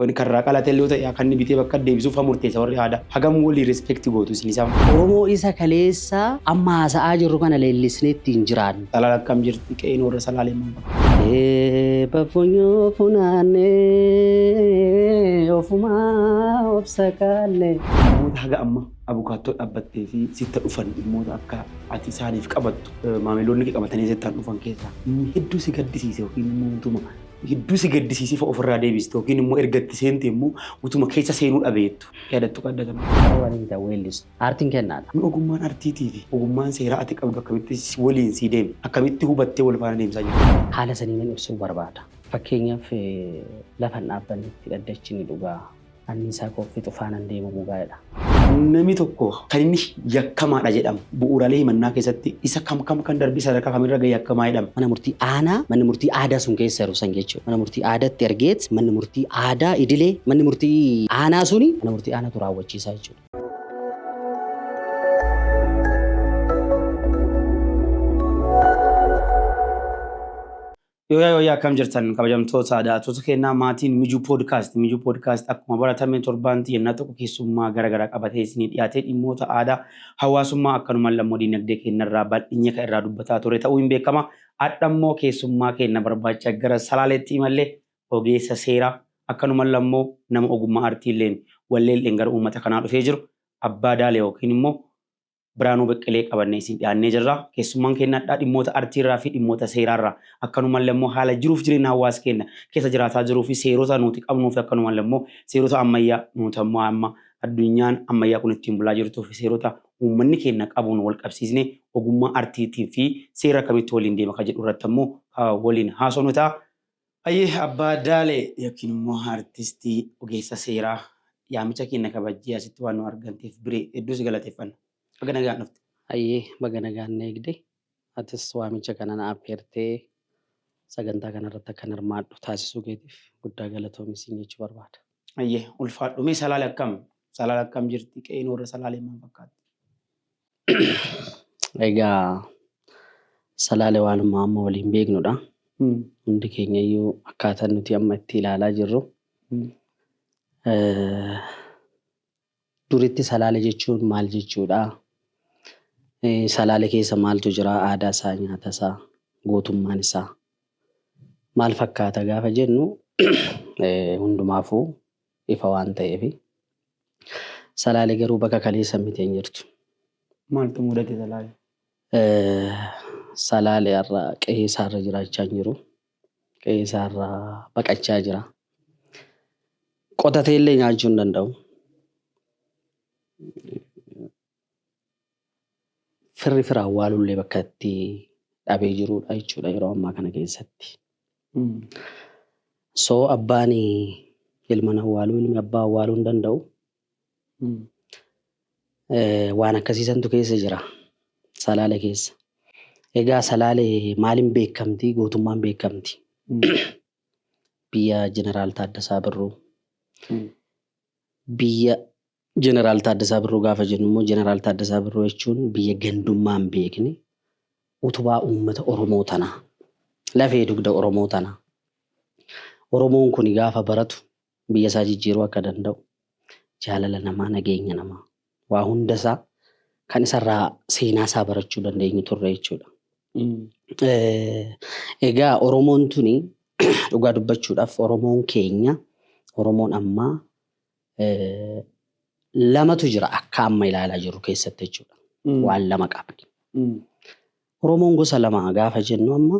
Wan kan irraa qalatelle yoo ta'e akka inni bitee bakka deebisuuf fa murteessa warri aadaa. Hagam walii respect gootu isin isaan fa'a. Oromoo isa kaleessa amma haasa'aa jirru kana leellisnee itti hin jiraannu. Salaal akkam jirti qe'een warra salaalee maal fakkaata? Eebba funyoo funaanne ofumaa of sakaalle. Namoota haga amma abukaattoo dhabbattee fi sitta dhufan dhimmoota akka ati isaaniif qabattu maamiloonni kee qabatanii sittaan dhufan keessaa inni hedduu si gaddisiise yookiin immoo utuma hedduu si gaddisiisee fa'a ofirraa deebiste yookiin immoo erga itti seentee immoo utuma keessa seenuu dhabeettu yaadattu qabda kana. Sababa ni hita weellis. Aartiin kennaadha. Mee ogummaan artiitii fi ogummaan seeraa ati qabdu akkamitti waliin sii deeme? Akkamitti hubattee wal faana deemsaa jirtu? Haala saniinan ibsuu barbaada. Fakkeenyaaf lafan dhaabbannetti dhaddachi ni dhugaa. anniisaa koo fixu faanan deemu bugaa'edha. Nami tokko kan inni yakkamaadha jedhamu bu'uuraalee himannaa keessatti isa kam kam kan darbee sadarkaa kam irra gahe yakkamaa jedhama? Mana murtii aanaa manni murtii aadaa sun keessa jiru san jechuudha. Mana murtii aadaatti ergeet manni murtii aadaa idilee manni murtii aanaa suni mana murtii aanaatu raawwachiisaa jechuudha. Yooyaa yooyaa akkam jirtan kabajamtoota daawwattoota keenyaa maatiin Mijuu Podcast. Mijuu Podcast akkuma baratame torbaanti yennaa tokko keessummaa gara garaa qabatee isinii dhiyaatee dhimmoota aadaa hawaasummaa akkanumaan lammoo diinagdee keenyarraa bal'inye kan irraa dubbataa ture ta'uu hin beekama. Adhammoo keessummaa keenya barbaacha gara salaaleetti imallee ogeessa seeraa akkanumaan lammoo nama ogummaa artiilleen walleelleen gara uummata kanaa dhufee jiru abbaa daale yookiin immoo Biraanuu Beqqelee qabannee isin dhiyaannee jirra. Keessummaan keenya hadhaa dhimmoota artiirraa fi dhimmoota seeraarraa akkanumallee immoo haala jiruuf jireenya hawaasa keenya keessa jiraataa jiruu fi seerota nuti qabnuu fi akkanumallee immoo seerota ammayyaa nuti ammoo amma addunyaan ammayyaa kun ittiin bulaa jirtuu fi seerota uummanni keenya qabuun wal qabsiisne ogummaa artiitiin fi seera akkamitti waliin deema kan jedhu irratti ammoo waliin haasofnu ta'a. Hayyee Abbaa Daalee yookiin immoo Artistii Ogeessa Seeraa yaamicha keenna kabajjee asitti waan nu arganteef Biree hedduu si galateeffanna. Baga nagaan dhufte. Hayyee baga nagaan na eegde. Atis waamicha kana na affeertee sagantaa kana irratti akkan hirmaadhu taasisuu keetiif guddaa galatoomi siin jechuu barbaada. Hayyee ulfaadhu. Mee Salaale akkam? Salaale akkam jirti? Qe'een warra Salaalee maal fakkaatti? Egaa salaale waanuma amma waliin beeknudha. Hundi keenya iyyuu akkaataa nuti amma itti ilaalaa jirru eh, duritti salaale jechuun maal jechuudha? Eh, Salaale keessa maaltu jira? Aadaa isaa, nyaata isaa, gootummaan isaa maal fakkaata gaafa jennu eh, hundumaafuu ifa waan ta'eefi. Salaale garuu bakka kaleessa miti hin jirtu. Maaltu mudate Salaale? Salaale har'a qe'ee isaarra jiraachaa hin jiru. Qe'ee isaarra baqachaa jira. Qotateellee nyaachuu hin danda'u. firri fira awwaalullee bakka itti dhabee jiruudha jechuudha yeroo ammaa kana keessatti. So abbaan ilman awwaaluu ilmi abbaa awwaaluu hin danda'u. Eh, Waan akkasiisantu keessa jira salaale keessa. Egaa salaale maaliin beekamti gootummaan beekamti biyya jeneraal Taaddasaa Birruu biyya Jeneraal Taaddasaa Birruu gaafa jennu immoo Jeneraal Taaddasaa Birruu jechuun biyya gandummaa hin beekne, utubaa uummata Oromoo tanaa, lafee dugda Oromoo tanaa, Oromoon kuni gaafa baratu biyya isaa jijjiiruu akka danda'u, jaalala namaa, nageenya namaa, waa hunda isaa kan isa irraa seenaa isaa barachuu dandeenyu turre jechuudha. Egaa Oromoon tuni dhugaa dubbachuudhaaf Oromoon keenya, Oromoon ammaa lamatu jira akka amma ilaalaa jirru keessatti jechuudha. Waan lama qabdi. Oromoon gosa lama gaafa jennu amma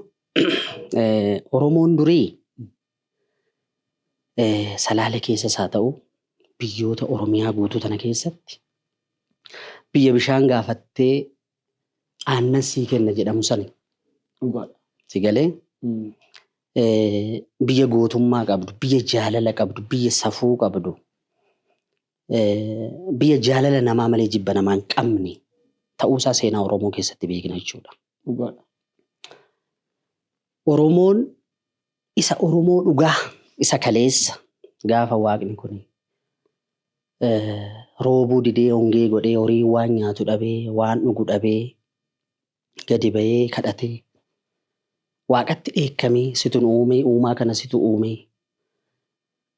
Oromoon durii salaale keessas haa ta'u biyyoota Oromiyaa guutuu tana keessatti biyya bishaan gaafattee aannan sii kenna jedhamu sani. Dhugaadha. Si galee? Biyya gootummaa qabdu, biyya jaalala qabdu, biyya safuu qabdu, biyya jaalala namaa malee jibba namaa hin qabne ta'uusaa seenaa Oromoo keessatti beekna jechuudha. Dhugaadha. Oromoon isa Oromoo dhugaa isa kaleessa gaafa waaqni kun roobuu didee hongee godhee horiin waan nyaatu dhabee waan dhugu dhabee gadi bahee kadhatee waaqatti dheekkamee situ nu uumee uumaa kana situ uumee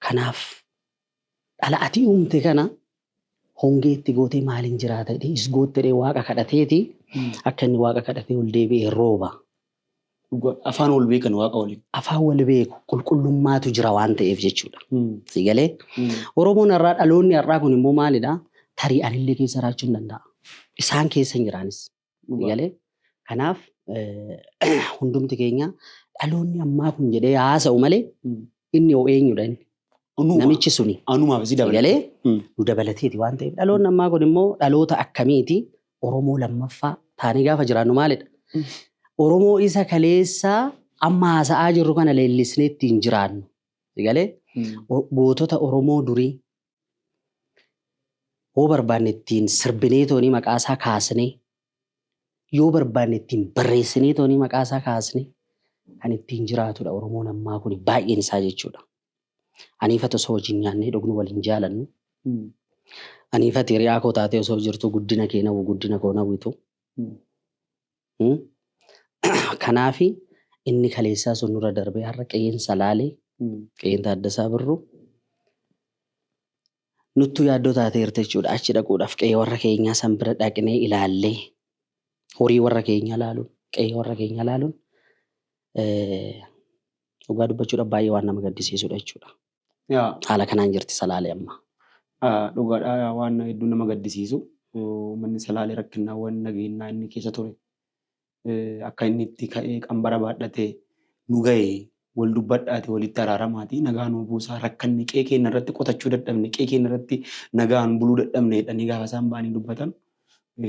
kanaaf Dhala ati uumte kana hongee itti gootee maaliin jiraata jedhee is gootte jedhee waaqa kadhateeti akka inni waaqa kadhatee ol deebi'ee rooba. Dhugaa afaan wal beekan waaqa waliin. Afaan wal beeku qulqullummaatu jira waan ta'eef jechuudha. Si galee Oromoon har'aa dhaloonni har'aa kun immoo maalidha tarii anillee keessa jiraachuu hin danda'a. Isaan keessa hin jiraanis. Dhugaa. Galee kanaaf eh, hundumti keenya dhaloonni ammaa kun jedhee haasa'u malee Mm. inni hoo eenyudha inni? Anuma. Namichi suni. Anumaaf si dabale. Galee Mm. nu dabalateeti waan ta'eef dhaloonni ammaa kun immoo dhaloota akkamiiti Oromoo lammaffaa taanee gaafa jiraannu maalidha? Mm. Oromoo isa kaleessaa amma haasa'aa jirru kana leellisnee ittiin jiraannu. Galee Mm. O- gootota Oromoo durii Hoo barbaanne ittiin sirbinee toonii maqaa isaa kaasnee yoo barbaanne ittiin barreessinee toonii maqaa isaa kaasne kan ittiin jiraatudha Oromoon ammaa kun baay'een isaa jechuudha. Aniifati osoo wajjin nyaannee dhugnu wal hin jaalannu. Aniifati hiriyaa koo taatee osoo jirtu guddina kee nawwu guddina koo nawwitu. Kanaafi inni kaleessaa sun nurra darbee har'a qe'een Salaalee, qe'een Taaddasaa Birruu nuttuu yaaddoo taateerti jechuudha. Achi dhaquudhaaf qe'ee warra keenyaa san bira dhaqnee ilaallee horii warra keenyaa ilaaluun, qe'ee warra keenyaa ilaaluun dhugaa dubbachuudhaaf baay'ee waan nama gaddisiisudha jechuudha. Yaa. Haala kanaan jirti Salaalee amma. Dhugaadhaa yaa waan hedduu nama gaddisiisu uummanni Salaalee rakkinnaawwan nageenyaa inni keessa ture akka inni itti ka'ee qambara baadhatee nu ga'e wal dubbadhaati walitti araaramaati nagaa nuu buusaa rakkanne qe'ee keenya irratti qotachuu dadhabne qe'ee keenya irratti nagaan buluu dadhabne jedhanii gaafa isaan ba'anii dubbatan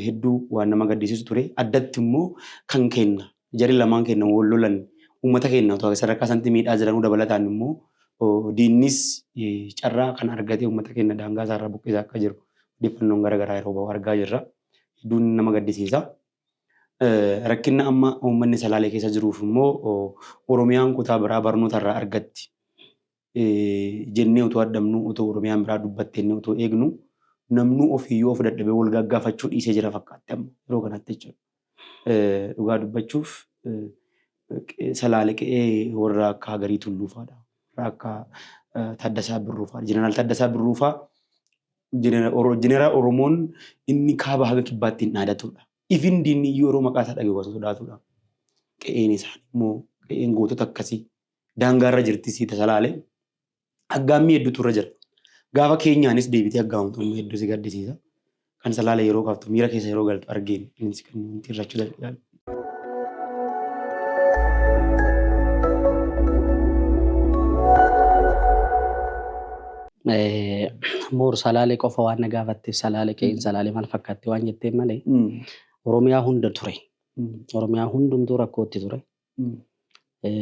hedduu waan nama gaddisiisu ture. Addatti immoo kan keenna jari lamaan keenna wal lolan uummata keenna otoo sadarkaa sanatti miidhaa jiranuu dabalataan immoo diinnis carraa kan argatee uummata keenna daangaa isaarraa buqqisaa akka jiru odeeffannoon gara garaa yeroo ba'u argaa jirra. Hedduun nama gaddisiisa. Rakkinna amma uummanni Salaalee keessa jiruuf immoo Oromiyaan kutaa biraa barnoota irraa argatti. jennee utuu hadhabnuu, utuu Oromiyaan biraa dubbatte jennee utuu eegnu namnuu ofiiyyuu of dadhabee wal gaaggaafachuu dhiisee jira fakkaatti amma yeroo kanatti jechuudha. Dhugaa dubbachuuf salaale qe'ee warra akka Hagarii Tulluufaadha. Warra akka Taaddasaa Birruufaadha. Jeneraal Taaddasaa Birruufaa jeneraal Oromoon inni kaaba haga kibbaatti hin dhaadatudha. Ifin diinni iyyuu yeroo maqaa isaa dhagahu kan sodaatudha. Qe'een isaanii immoo qe'een gootota akkasii daangaarra jirti siita salaale aggaammii hedduutu irra jira. Gaafa keenyaanis deebitee aggaamamtu immoo hedduu si gaddisiisa. Kan salaale yeroo kaaftu miira keessa yeroo galtu argeen innis kan nuti irrachuu danda'an. Moor salaale qofa waan na gaafatteef salaale qe'een salaale maal fakkaatti waan jetteen malee Oromiyaa hunda ture. Oromiyaa hundumtuu rakkootti ture.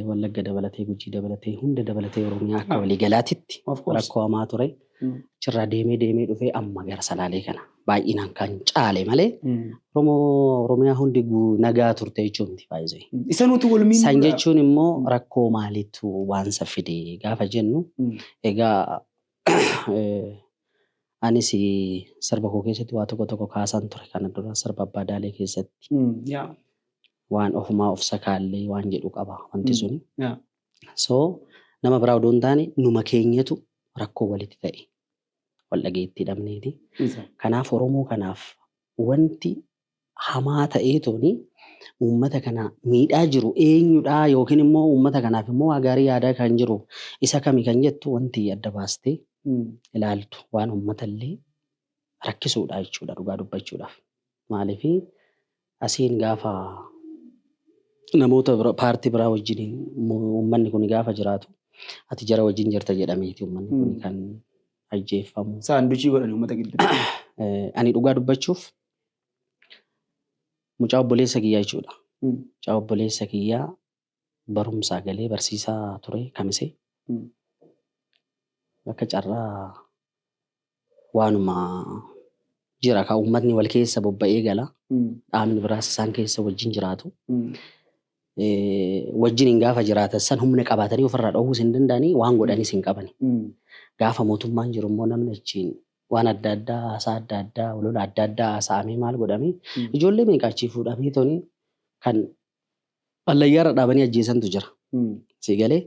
Wallagga dabalatee, Gujii dabalatee, hunda dabalatee Oromiyaa akka walii galaatitti rakkoo hamaa ture. Achirraa deemee deemee dhufee amma gara Salaalee kana baay'inaan kan caale malee Oromiyaa hundi nagaa turte jechuun miti baay'isee. Isa nuti wal miidhuu. San jechuun immoo rakkoo maaliitu waansa fide gaafa jennu egaa Anis sirba koo keessatti waa tokko tokko kaasaan ture kana dura sirba Abbaa Daalee keessatti. Waan ofumaa of sakaallee waan jedhu qaba wanti suni. So nama biraa odoo hin taane numa keenyatu rakkoo walitti ta'e. Wal dhageettii dhabneeti. Kanaaf Oromoo kanaaf wanti hamaa ta'eetoon uummata kana miidhaa jiru eenyudha yookiin immoo uummata kanaaf immoo waa gaarii yaadaa kan jiru isa kami kan jettu wanti adda baastee ilaaltu waan uummata illee rakkisuudha jechuudha dhugaa dubbachuudhaaf. Maaliif asiin gaafa namoota bira- paartii biraa wajjin uummanni kun gaafa jiraatu ati jara wajjin jirta jedhameeti uummanni kun kan ajjeeffamu. Saanduchii godhanii uummata gidduu. Eh, Ani dhugaa dubbachuuf Mucaa obboleessa kiyyaa jechuudha. Mucaa obboleessa kiyyaa barumsaa galee barsiisaa ture kamise. Akka carraa waanuma jira kan uummatni wal keessa bobba'ee gala. Dhaabni biraas isaan keessa wajjin jiraatu. Wajjin hin gaafa jiraatan san humna qabaatanii ofirraa dhoowwuus hin danda'anii waan godhanis hin qabani. Gaafa mootummaan jiru immoo namni achiin waan adda addaa haasaa adda addaa walola adda addaa haasa'amee maal godhamee ijoollee meeqa achii fuudhamee toni kan hallayyaarra dhaabanii ajjeesantu jira. Sii galee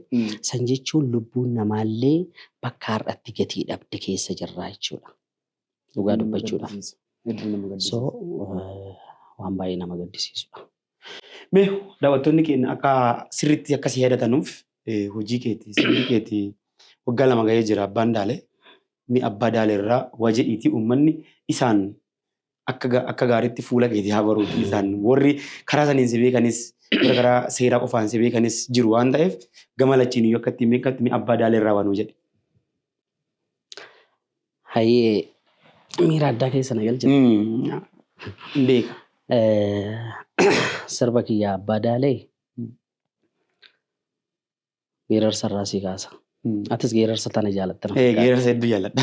san jechuun lubbuun namaallee bakka har'atti gatii dhabde keessa jirraa jechuudha. Dhugaa dubbachuudhaaf. So waan baay'ee nama gaddisiisudha. Mee daawwattoonni keenya akka sirriitti akka si yaadatanuuf hojii keeti sirbi keeti waggaa lama gahee jira abbaan daale mee abbaa daale irraa waa jedhiitii uummanni isaan akka ga- akka gaariitti fuula keetii haa baruuti isaan warri karaa saniin si beekanis warra karaa seeraa qofaan si beekanis jiru waan ta'eef gama lachiin iyyuu akka ittiin beekatti mee abbaa daale irraa waan hojjedhe. Hayyee miira addaa keessa na galchite. Hin beeka. Sirba kiyya abbaa daalee geerarsa irraa sii kaasa. Atis geerarsa tana jaalatta na Ee fakkaata. geerarsa hedduu jaalladha.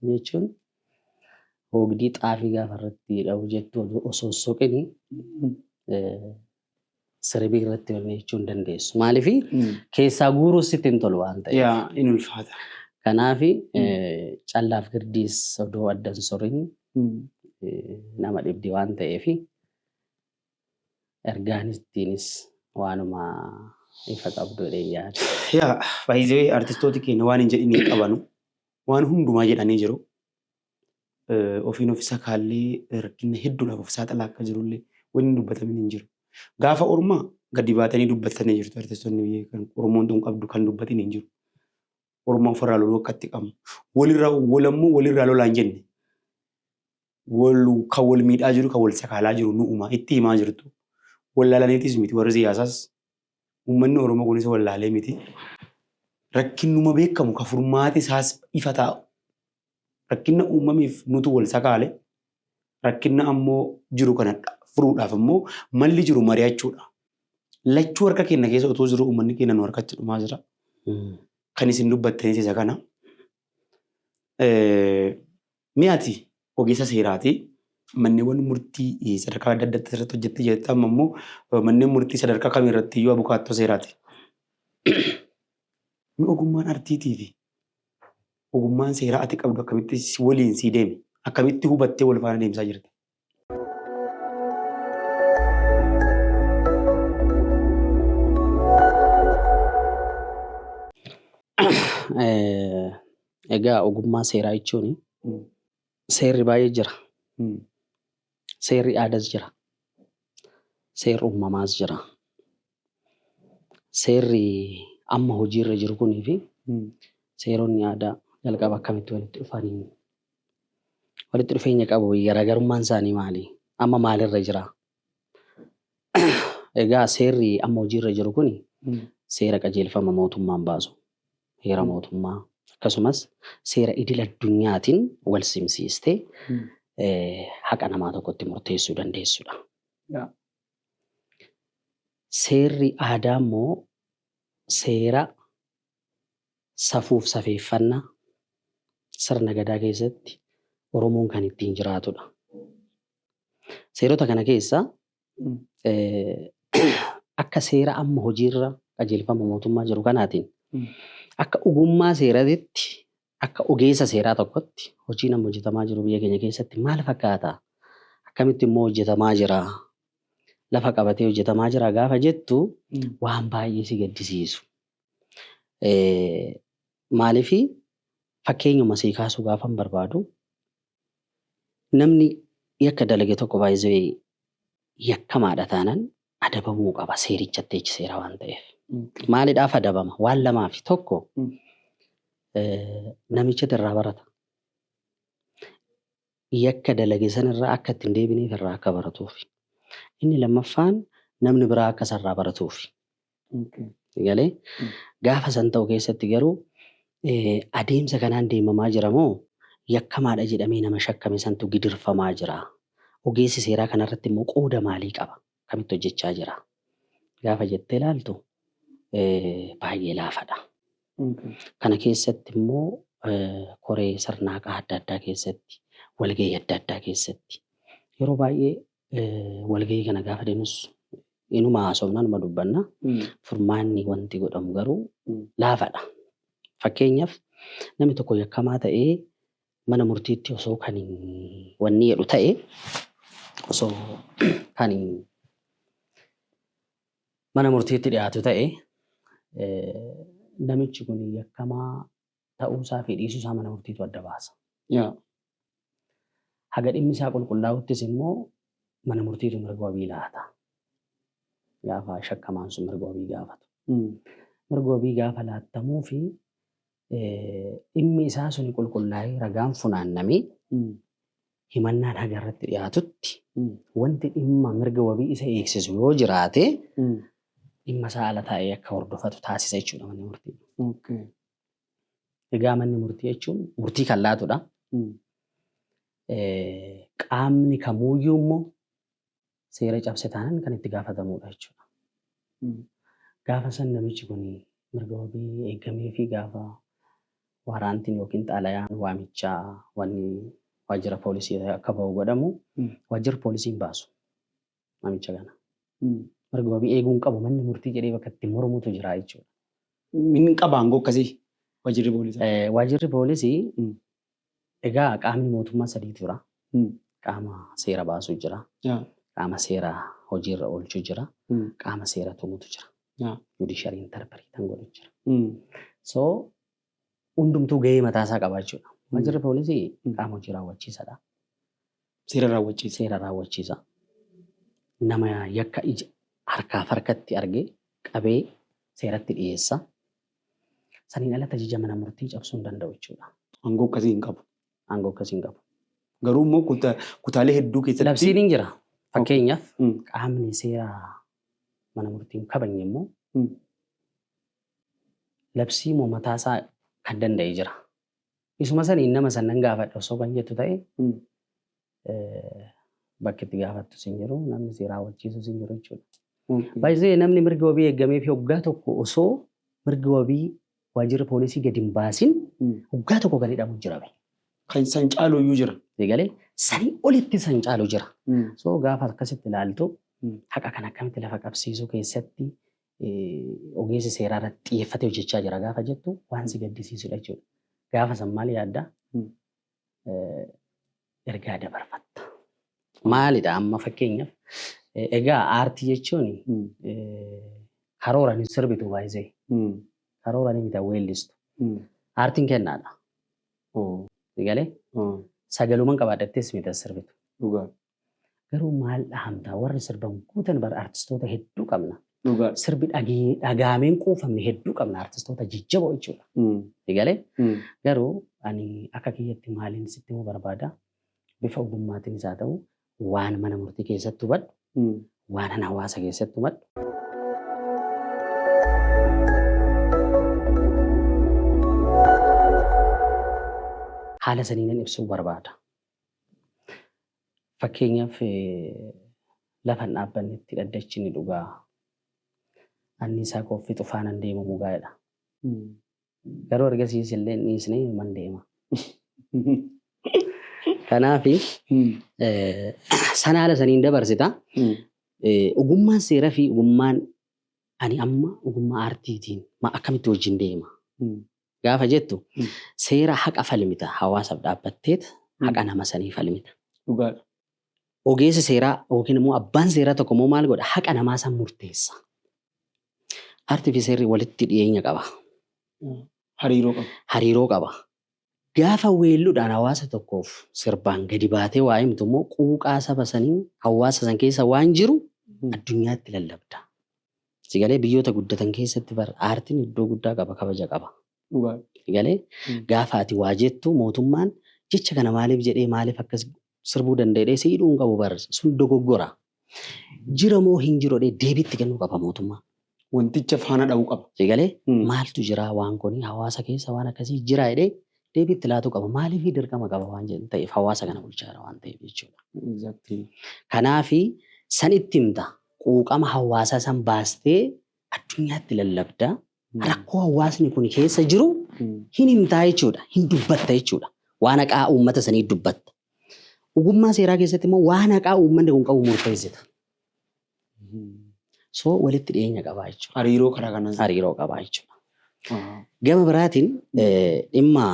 Kana jechuun oogdii xaafii gaafa irratti dha'u jettu osoo hin soqini siribii irratti wanni jechuu hin dandeessu. Maaliif keessaa guuruu sitti hin tolu waan ta'eef. Yaa in ulfaata. Kanaaf callaaf girdiis odoo adda hin sorin nama dhibdi waan ta'eef ergaan ittiinis waanuma ifa qabdu jedheen yaada. Yaa by the way artistooti keenya waan hin jedhin hin qabanu. Waan hundumaa jedhanii jiru. Eh, Ofiin of isa kaallee rakkina hedduudhaaf of saaxilaa akka jirullee wanni hin dubbatamin hin jiru. Gaafa ormaa gadi baatanii dubbattanii jirtu artistoonni biyya kan Oromoon tun qabdu kan dubbatin hin jiru. Ormaa ofirraa loluu akka itti qabnu. Walirraa walammoo walirraa lolaan jenne. wal kan wal miidhaa jiru kan wal sakaalaa jiru nu'uma itti himaa jirtu wallaalaniitis miti warri siyaasaas uummanni Oromoo kunis wallaalee miti rakkinnuma beekamu ka furmaati isaas ifa taa'u rakkinna uumamiif nutu wal sakaale rakkinna ammoo jiru kana furuudhaaf ammoo malli jiru mari'achuudha lachuu harka keenya keessa otoo jiru uummanni keenya nu harkatti dhumaa jira kan isin dubbattanis isa kana. Mee ati ogeessa seeraati. Manneewwan murtii sadarkaa adda addaa irratti hojjette jirta. Amma immoo manneen murtii sadarkaa kamii irratti iyyuu abukaattoo seeraati. Mee ogummaan artiitii fi ogummaan seeraa ati qabdu akkamitti waliin sii deeme? Akkamitti hubattee wal faana deemsaa jirta? Egaa ogummaa seeraa jechuun seerri baay'ee jira. Seerri aadaas jira. Seerri uumamaas jira. Seerri amma hojiirra jiru kunii fi seeronni aadaa jalqaba akkamitti walitti dhufanii walitti dhufeenya qabu garaagarummaan isaanii maali amma maalirra jira egaa seerri amma hojiirra jiru kun seera qajeelfama mootummaan baasu heera mootummaa akkasumas seera idil addunyaatiin wal simsiistee haqa namaa tokkotti murteessuu dandeessudha. Seerri aadaa immoo seera safuuf safeeffannaa sirna Gadaa keessatti Oromoon kan ittiin jiraatudha. Seerota kana keessaa akka seera amma hojiirra qajeelfama mootummaa jiru kanaatiin akka ogummaa seeratitti akka ogeessa seeraa tokkotti hojiin amma hojjetamaa jiru biyya keenya keessatti maal fakkaata? Akkamitti immoo hojjetamaa jira? Lafa qabatee hojjetamaa jira gaafa jettu waan baay'ee si gaddisiisu. Maaliif fakkeenyuma sii kaasuu gaafan barbaadu namni yakka dalage tokko by the way yakkamaadha taanan adabamuu qaba seerichatti H seera waan ta'eef. Maalidhaaf adabama? Waan lamaafi tokko namichatu irraa barata. yakka dalage sana irraa akka itti hin deebineef irraa akka baratuufi. Inni lammaffaan namni biraa akka isa irraa baratuufi. Galee gaafa san ta'u keessatti garuu adeemsa kanaan deemamaa jira moo yakkamaadha jedhamee nama shakkame santu gidirfamaa jira? Ogeessi seeraa kanarratti immoo qooda maalii qaba? akkamitti hojjechaa jira gaafa jettee ilaaltu baay'ee laafadha. Kana keessatti immoo koree sirnaaqaa adda addaa keessatti, walgahii adda addaa keessatti yeroo baay'ee walgahii kana gaafa deemus inuma haasofna, inuma dubbanna. Furmaanni wanti godhamu garuu laafadha. Fakkeenyaaf namni tokko yakkamaa ta'ee mana murtiitti osoo kan wanni jedhu ta'e osoo kan mana murtiitti dhiyaatu ta'e namichi kun yakkamaa ta'uusaa fi dhiisuusaa mana murtiitu adda baasa. Haga dhimmi isaa qulqullaa'uttis immoo mana murtiitu mirga wabii laata. Gaafa shakkamaan sun mirga wabii gaafatu. Mirga wabii gaafa laattamuu fi dhimmi isaa suni qulqullaa'ee ragaan funaannamee himannaan haga irratti dhiyaatutti wanti dhimma mirga wabii isa eegsisu yoo jiraate dhimma isaa ala taa'ee akka hordofatu taasisa jechuudha manni murtii. Egaa manni murtii jechuun murtii kan laatudha. Qaamni kamuuyyuu immoo seera cabse taanaan kan itti gaafatamuudha jechuudha. Gaafa san namichi kun mirga wabii eegamee fi gaafa waaraantiin yookiin xalayaan waamichaa wanni waajjira poolisii irraa akka bahu godhamu waajjirri poolisii hin baasu namicha kana. Mirga wabii eeguu hin qabu manni murtii jedhee bakka itti mormutu jira jechuudha. Min qaba aangoo akkasii waajjirri poolisaa. Eh, Waajjirri poolisii Mm. Egaa qaamni mootummaa sadiitu jira. Qaama seera baasu jira. Qaama seera hojiirra oolchu jira. Qaama seera tumutu jira. Judiciary interpretan godhu jira. So hundumtuu gahee mataa isaa qaba jechuudha. Waajjirri poolisii qaama hojii raawwachiisadha. Seera raawwachiisa. Seera raawwachiisa. Nama yakka ija harkaaf harkatti argee qabee seeratti dhiyeessa. Saniin alatti ajaja mana murtii cabsuu hin danda'u jechuudha. Aangoo akkasii hin qabu. Aangoo akkasii hin qabu. Garuu immoo kuta- kutaalee hedduu keessatti Labsiin hin jira. Fakkeenyaaf Mm. qaamni seera mana murtii hin kabajne immoo Mm. labsii moo mataasaa kan danda'e jira. Isuma saniin nama san nan gaafadha osoo kan jettu ta'e bakki itti gaafattus hin jiru namni si raawwachiisus hin jiru jechuudha. Baay'ee namni mirgi wabii eegamee fi waggaa tokko osoo mirgi wabii waajjirri poolisii gadi hin baasin waggaa tokko kan hidhamu jira. Kan san caalu iyyuu jira. Eegalee sanii olitti san caalu jira. So gaafa akkasitti ilaaltu haqa kan akkamitti lafa qabsiisuu keessatti ogeessi seeraa irratti xiyyeeffatee hojjechaa jira gaafa jettu waan si gaddisiisudha jechuudha. Gaafa san maal yaadda? Ergaa dabarfatta. Maalidha amma fakkeenyaaf egaa aartii jechuun karoora hin sirbitu baay'isee karoora ni mita weellistu. Aartiin kennaadha. Galee sagaluman qabaadhattees mita sirbitu. Garuu maal dhahamtaa warri sirban guutan bar artistoota hedduu qabna. Dhugaadha. Sirbi dhagee- dhagaameen quufamne hedduu qabna artistoota jajjaboo jechuudha. Mm. Si galee? Mm. Garuu ani akka kiyyatti maaliin sitti himuu barbaada bifa ogummaatiinis haa ta'u waan mana murtii keessatti hubadhu Mm. waan an hawaasa keessatti hubadhu. Haala saniin ibsuu barbaada. Fakkeenyaaf lafa hin dhaabbannetti dhaddachi ni dhuga. Anniisaa koo fixu faanan deema mugaa jedha. Garuu ergasiis illee hin dhiisne inuman deema. Kanaaf sana haala saniin dabarsita. Ogummaan seeraa fi ogummaan ani amma ogummaa aartiitiin akkamitti wajjin deema? gaafa jettu seera haqa falmita hawaasaf dhaabbatteet haqa nama sanii falmita. Dhugaadha. Ogeessi seeraa yookiin immoo abbaan seeraa tokko immoo maal godha haqa namaa san murteessa. Arti fi seerri walitti dhiyeenya qaba. Hariiroo qaba. Hariiroo qaba. Gaafa weelludhaan hawaasa tokkoof sirbaan gadi baatee waa himtu immoo quuqaa saba sanii hawaasa san keessa waan jiru addunyaatti lallabda. Si galee biyyoota guddatan keessatti bar aartiin iddoo guddaa qaba kabaja qaba. Dhugaa. Si galee Mm. gaafa ati waa jettu mootummaan jecha kana maaliif jedhee maaliif akkas sirbuu danda'ee si hidhuu hin qabu bar sun dogoggora. Jira moo hin jiru jedhee deebiitti kennuu qaba mootummaa. Wanticha faana dha'uu qaba. Si galee Mm. maaltu jira waan kuni hawaasa keessa waan akkasii jira jedhee deebiitti laatuu qaba maaliif dirqama qaba waan jedhu ta'eef hawaasa kana bulchaa jira waan ta'eef jechuudha. Exactly. Kanaafi san itti himta. quuqama hawaasaa san baastee addunyaatti lallabda. Rakkoo hawaasni kun keessa jiru hin himtaa jechuudha. Hin dubbatta jechuudha. Waan haqaa uummata sanii dubbatta. Ogummaa seeraa keessatti immoo waan haqaa uummanni kun qabu murteessita. So walitti dhiyeenya qabaa jechuudha. Hariiroo karaa kanaan. Hariiroo qabaa jechuudha. Ahaa. Gama biraatiin eh, dhimma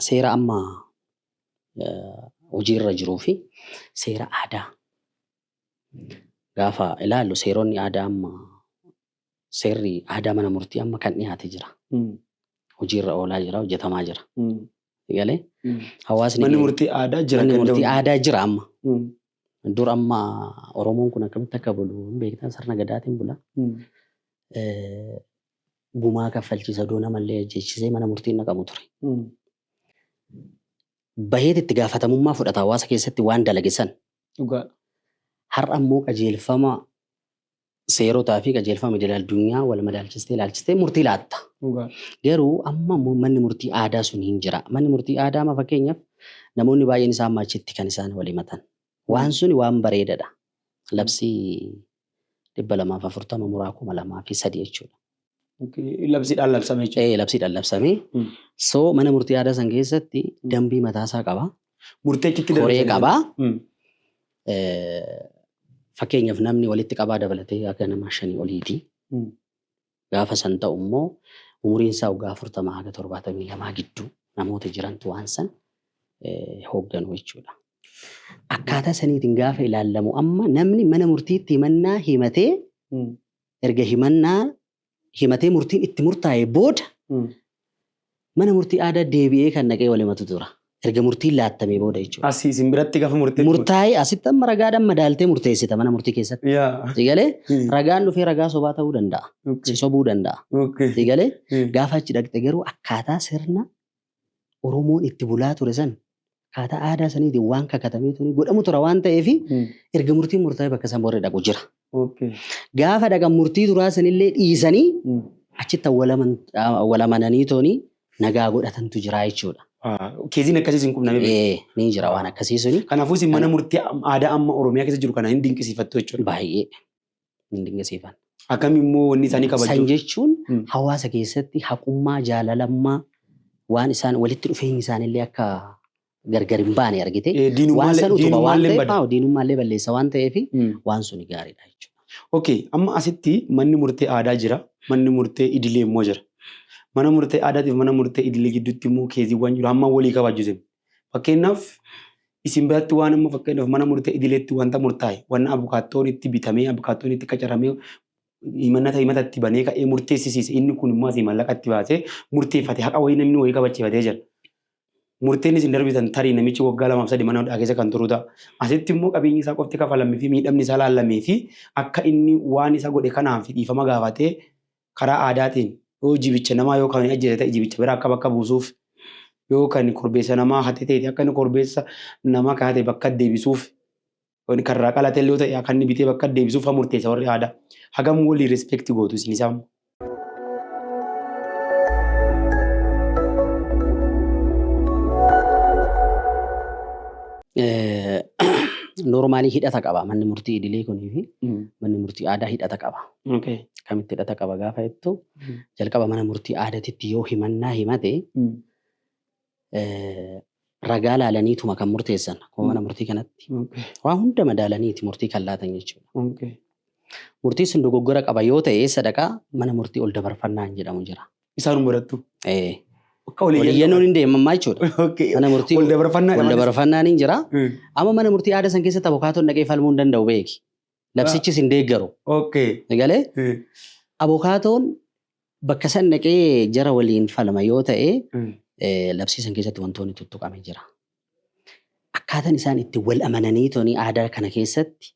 seera amma eh, hojiirra jiruu fi seera aadaa gaafa ilaallu seeronni aadaa amma seerri aadaa mana murtii amma kan dhiyaate jira. Hojiirra oolaa jira, hojjetamaa jira. Galee hawaasni Manni murtii aadaa jira manni murtii ganda'u. aadaa jira amma. Dur amma Oromoon kun akkamitti akka bulu hin beektan sirna gadaatiin bula. Eh, Gumaa kaffalchiisa doo namallee ajjeechisee mana murtiin naqamu ture. Baheet itti gaafatamummaa fudhata hawaasa keessatti waan dalagesan Dhugaadha. Har'a immoo qajeelfama seerotaa fi qajeelfama idil addunyaa wal madaalchistee ilaalchistee murtii laatta. Dhugaadha. Garuu amma immoo manni murtii aadaa sun hin jira. Manni murtii aadaa amma fakkeenyaaf namoonni baay'een isaan maachitti kan isaan wal himatan. Waan suni waan bareedadha. Labsii 240 muraa 2003 jechuudha. Labsiidhaan labsame jechuudha. Ee labsiidhaan labsamee Hmm. soo mana murtii aadaa san keessatti dambii mataasaa qaba Murtee achitti koree dabarsan. qaba Hmm. Eh, fakkeenyaaf namni walitti qabaa dabalatee akka nama shanii oliiti Hmm. Gaafa san ta'u immoo umuriin isaa waggaa 40 haga 72 gidduu namoota jirantu waan san hoogganu jechuudha. Akkaataa saniitiin gaafa ilaallamu amma namni mana murtiitti himannaa himatee erga himannaa himatee murtiin itti murtaa'e booda Mana murtii aadaa deebi'ee kan dhaqee wal himatu tura. Erga murtiin laattamee booda jechuudha. Asi isin biratti gafa murteetti murte. Murtaa'ee asitti amma ragaadhaan madaaltee murteessita mana murtii keessatti. Yaa. Si galee? Hmm. Ragaan dhufee ragaa sobaa ta'uu danda'a. Si Okay. sobuu danda'a. Si Okay. galee? Hmm. Gaafa achi dhaqxe garuu akkaataa sirna Oromoon itti bulaa ture san Akkaataa aadaa saniitiin waan kakatamee tuni godhamu tura waan ta'eef Hmm. erga murtiin murtaa'ee bakka san warri dhaqu jira. Okay. Gaafa dhaqan murtii duraa sanillee dhiisanii Hmm. achitti awwalaman- awwalamananii tooni nagaa godhatantu jira jechuudha. Ah, Keeziin akkasiis hin qubname. Ee, Ni jira waan akkasii suni Kanaafuu isin mana murtii aadaa amma Oromiyaa keessa jiru kana hin dinqisiifattu jechuudha. baay'ee hin dinqisiifanne. Akkam immoo wanni isaanii San kabajuu. jechuun Mm. hawaasa keessatti haqummaa, jaalalammaa waan isaan walitti dhufeenyi isaanillee akka gargar hin baane argite. Eh, Waan diinummaa san utuma waan illee ta'eef bada. haa, diinummaa illee balleessa waan ta'eef Mm. waan suni gaariidha jechuudha. Okay, amma asitti manni murtee aadaa jira, manni murtee idilee immoo jira. Mana murtee aadaatiif mana murtee idilee gidduutti immoo keeziiwwan jiru hamma walii kabajuu sin. Fakkeenyaaf isin biratti waan amma fakkeenyaaf mana murtee idileetti wanta murtaa'e wanna abukaattoon itti bitamee abukaattoon itti qacaramee himannata himata itti banee ka'ee murteessisiise inni kun immoo asii mallaqa itti baasee murteeffate haqa wayii namni wayii kabachiifatee jira. Murteen isin darbitan tarii namichi waggaa lamaaf sadii mana hidhaa keessa kan turu ta'a. Asitti immoo qabeenyi isaa qofti kafalamee fi miidhamni isaa laallamee fi akka inni waan isa godhe kanaaf dhiifama gaafatee karaa aadaatiin yoo jibicha namaa yoo kan ajjeese ta'e jibicha biraa akka bakka buusuuf yoo kan korbeessa namaa hate ta'e akka inni korbeessa namaa kan hate bakka deebisuuf kan irraa qalate illee ta'e akka inni bitee bakka deebisuuf kan murteessa warri aadaa hagam walii respect gootu isin isaan. Noormaalii hidhata qaba manni murtii idilee kunii fi manni murtii aadaa hidhata qaba. Okay. Akkamitti hidhata qaba gaafa jettu jalqaba mana murtii aadatitti yoo himannaa himate Mm. eh, ragaa laalaniituma kan murteessan akkuma mana murtii kanatti Okay. waan hunda madaalaniiti murtii kan laatan jechuudha. Okay. Murtii sun dogoggora qaba yoo ta'e eessa dhaqaa mana murtii ol dabarfannaan jedhamu jira. Isaan murattu. Eh, Akka Waliyyannoon hin deemamaa jechuudha. Okay. Mana murtii Wal dabarfannaa wal dabarfannaan hin jira. Mm. Amma mana murtii aadaa san keessatti abukaatoon dhaqee falmuu hin danda'u beeki. Labsichis hin deeggaru. Okay. Galee Eh, abokaatoon bakka san dhaqee jara waliin falma yoo ta'e mm, eh, labsii san keessatti wantoonni tuttuqame jira. Akkaataan isaan itti wal amananii toni aadaa kana keessatti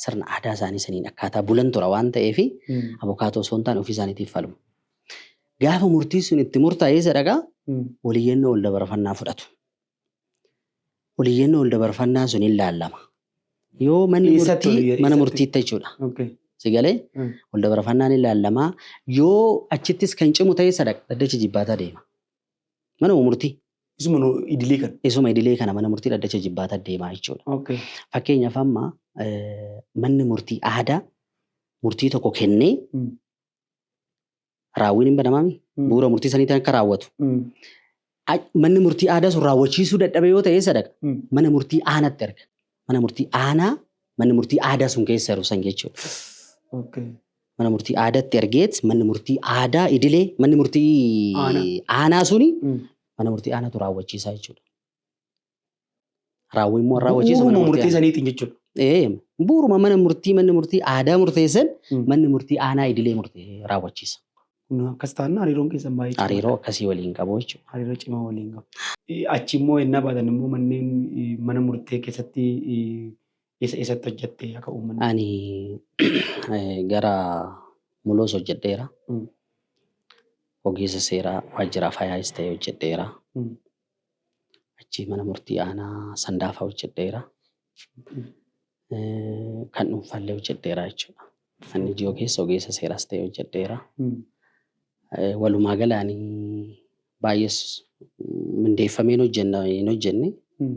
sirna aadaa isaanii saniin akkaataa bulan tura waan ta'eef mm, abokaatoo osoo hin taane ofii isaaniitiif falmu. Gaafa murtiin sun itti murtaa'ee sadaqaa mm, waliyyannoo ol dabarfannaa fudhatu. ol iyyannoo ol dabarfannaa sun hin laallama. Yoo manni Eessatti ol murtii iyya- mana eessatti? murtiitti jechuudha. Okay. Si galee Mm. ol dabarfannaan hin laallamaa. Yoo achittis kan cimu ta'e sadaq dhaddacha jibbaataa deema. Mana murtii Isuma nu idilee kan. isuma idilee kana mana murtii dhaddacha jibbaataa deemaa jechuudha. Okay. Fakkeenyaaf amma eh, manni murtii aadaa murtii tokko kennee Mm. raawwiin hin banamaa miti. Mm. Bu'uura murtii saniitiin akka raawwatu. Mm. A- Manni murtii aadaa sun raawwachiisuu dadhabe yoo ta'e eessa dhaqa? Mm. Mana murtii aanaatti erga. Mana murtii aanaa manni murtii aadaa sun keessa jiru san jechuudha. Okay. Mana murtii aadaatti ergeet manni murtii aadaa idilee manni murtii Aanaa. aanaa suni Mm. mana murtii aanaatu raawwachiisaa jechuudha. Raawwii immoo raawwachiisa mana Bu'uuruma murtii murtee aanaa. saniitiin jechuudha. Ee, Bu'uuruma mana murtii manni murtii aadaa murteessan Mm. manni murtii aanaa idilee murtee raawwachiisa. Kun akkas taanaan hariiroon keessan baay'ee cimaadha. Hariiroo akkasii waliin qabu jechuudha. hariiroo cimaa waliin qabu. Eh, Achi immoo ennaa baatan immoo manneen eh, mana murtee keessatti eh, eessa eessatti hojjatte akka uummanni. Ani eh, gara muloos hojjedheera. Mm. Ogeessa seeraa waajjira faayaas ta'e hojjedheera. Mm. Achii mana murtii aanaa Sandaafaa hojjedheera. Kan dhuunfaallee hojjedheera jechuudha. Kan ijoo keessa ogeessa seeraas ta'e hojjedheera. Walumaa galaan baay'ees mindeeffameen hojjenna hin hojjenne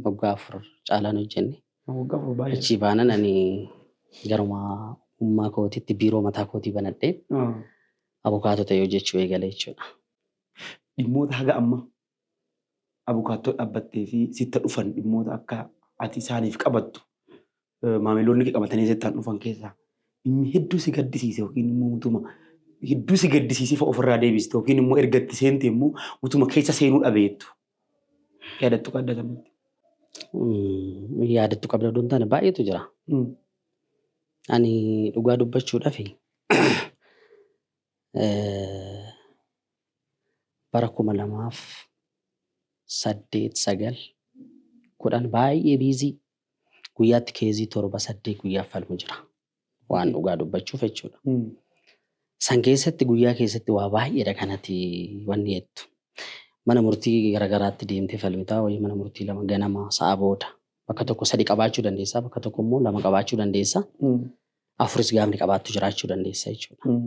waggaa afur caalaan hojjenne. Waggaa afur baay'ee. Achii baanan ani garuma ummaa kootitti biiroo mataa kootii banadhee abukaatoo ta'e hojjechuu eegale jechuudha. Dhimmoota haga ammaa abukaattoo dhaabbattee fi sitta dhufan dhimmoota akka ati isaaniif qabattu maamiloonni kee qabatanii sittaan dhufan keessaa inni hedduu si gaddisiise yookiin immoo utuma hedduu si gaddisiisee fa'a ofirraa deebiste yookiin immoo erga itti seente immoo utuma keessa seenuu dhabeettu yaadattu qabda kanatti. Mm, yaadattu qabda odoo hin taane baay'eetu jira. Mm. Ani dhugaa dubbachuudhaaf bara 2008, 9, 10 baay'ee biizii guyyaatti keezii torba saddeet guyyaaf falmu jira. Waan dhugaa dubbachuuf jechuudha. San keessatti guyyaa keessatti waa baay'eedha kanati wanni jettu. Mana murtii garaagaraatti deemtee falmitaa wayii mana murtii lama ganama sa'a booda bakka tokko sadi qabaachuu dandeessaa bakka tokko immoo lama qabaachuu dandeessaa. afuris gaafni qabaattu jiraachuu dandeessa jechuudha.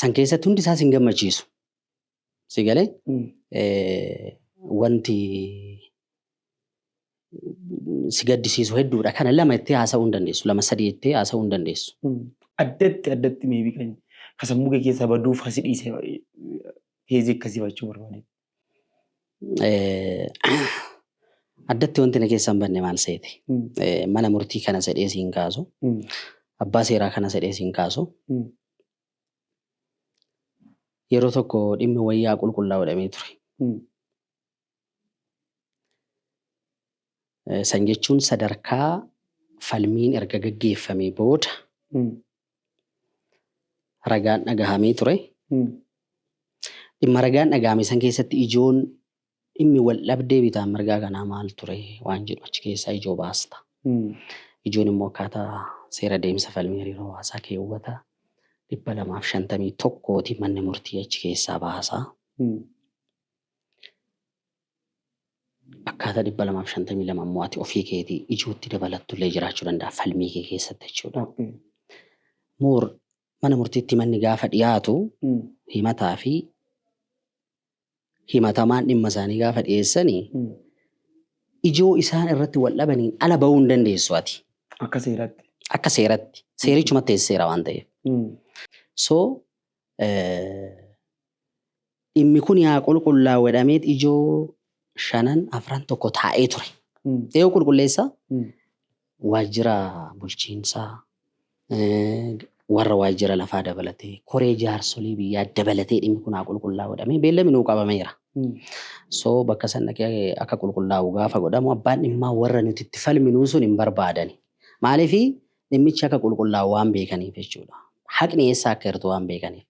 San keessatti hundi isaa sin gammachiisu. Si galee wanti si gaddisiisu hedduudha. Kana lama itti haasa'uu hin dandeessu. Lama sadii itti haasa'uu hin dandeessu. Addatti addatti meebii kan ka sammuu kee keessaa baduuf hasi dhiisee heezii akkasii fachuu barbaade. Addatti wanti na keessa hin banne maal seete? Mana murtii kana sedhee siin kaasu, abbaa seeraa kana sedhee siin kaasu. Yeroo tokko dhimmi wayyaa qulqullaa'u jedhamee ture. San jechuun sadarkaa falmiin erga gaggeeffamee booda ragaan dhagahamee ture. Dhimma ragaan dhagahame san keessatti ijoon dhimmi wal dhabdee bitaa mirgaa kanaa maal ture waan jedhu achi keessaa ijoo baasta. Ijoon immoo akkaataa seera deemsa falmii hariiroo hawaasaa keewwata dhibba lamaaf shantamii tokkooti manni murtii achi keessaa baasa. Akkaataa 252 immoo ati ofii keetii ijootti dabalattullee jiraachuu danda'a falmii kee keessatti jechuudha. Okay. Moor mana murtiitti manni gaafa dhiyaatu Mm. himataa fi himatamaan dhimma isaanii gaafa dhiyeessanii Mm. ijoo isaan irratti wal dhabaniin ala ba'uu hin dandeessu ati. Akka seeratti. Akka seeratti. Seerichumatti seera waan ta'eef. Mm. So eh, dhimmi kun yaa qulqullaa'u jedhameet ijoo shanan afran tokko taa'ee ture. Eewu qulqulleessa waajjira bulchiinsaa warra waajjira lafaa dabalatee koree jaarsolii biyyaa dabalatee dhimmi kun haa qulqullaa'u jedhamee beellami nuu qabameera. So bakka san dhaqee akka qulqullaa'u gaafa godhamu abbaan dhimmaa warra nuti itti falminuu sun hin barbaadani. Maaliif dhimmichi akka qulqullaa'u waan beekaniif jechuudha. Haqni eessaa akka hirtu waan beekaniif.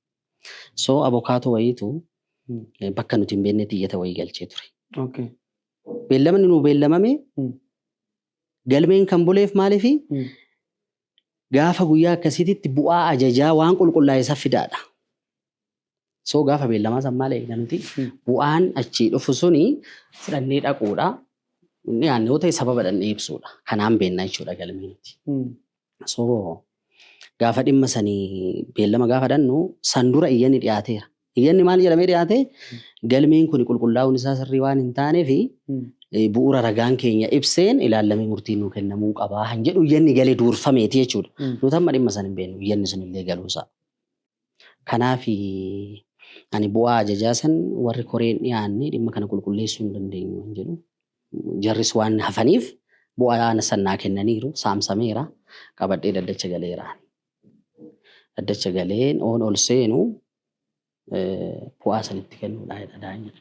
So abokaatoo wayiitu bakka nuti hin beeknetti iyyata wayii galchee ture. Okay. Beellamni nuu beellamame Mm. galmeen kan buleef maaliifi Mm. gaafa guyyaa akkasiititti bu'aa ajajaa waan qulqullaa'e isa fidaadha. So gaafa beellamaa san maal eegna nuti Mm. bu'aan achii dhufu suni fudhannee dhaquudha. Inni aanne yoo ta'e sababa dhannee ibsuudha. Kanaan beennaa jechuudha galmee nuti. Mm. So gaafa dhimma sani beellama gaafa dhannu san dura iyyanni dhiyaateera. Iyyanni maal jedhamee dhiyaate galmeen kun qulqullaa'uun isaa sirrii waan hin taaneef eh, bu'uura ragaan keenya ibseen ilaallamee murtiin nuu kennamuu qabaa kan jedhu iyyanni galee duurfameeti jechuudha. Nuti amma dhimma san hin beeknu iyyanni sun illee galuusaa. Kanaafi, ani bu'aa ajajaa san warri koree hin dhiyaanne dhimma kana qulqulleessuu hin dandeenyu hin jedhu. Jarris waan hafaniif bu'aa san naa kennaniiru, saamsameera, qabadhee dhaddacha galeera. Dhaddacha galeen oon ol seenu bu'aa san itti kennuudha jedha daanyan.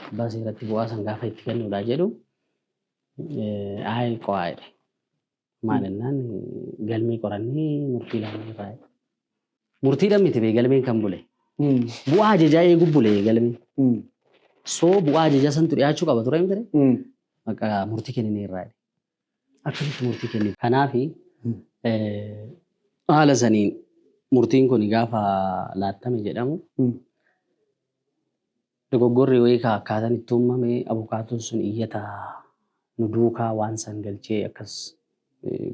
Abbaa seeratti bu'aa san gaafa itti kennuudha jedhu, ayi qo'aa jedhe. Maal jennaan galmee qorannee murtii laannee irraa. Murtiidhaan miti bee galmeen kan bule. Bu'aa ajajaa eeguu bule galmeen. Soo bu'aa ajajaa santu dhiyaachuu qaba ture miti Bakka murtii kenninee irraa. Akkamitti murtii kenni. Kanaaf haala saniin murtiin kun gaafa laattame jedhamu Dogoggorri wayika akkaatan itti uummame abukaatoon sun iyyata nu duukaa waan san galchee akkas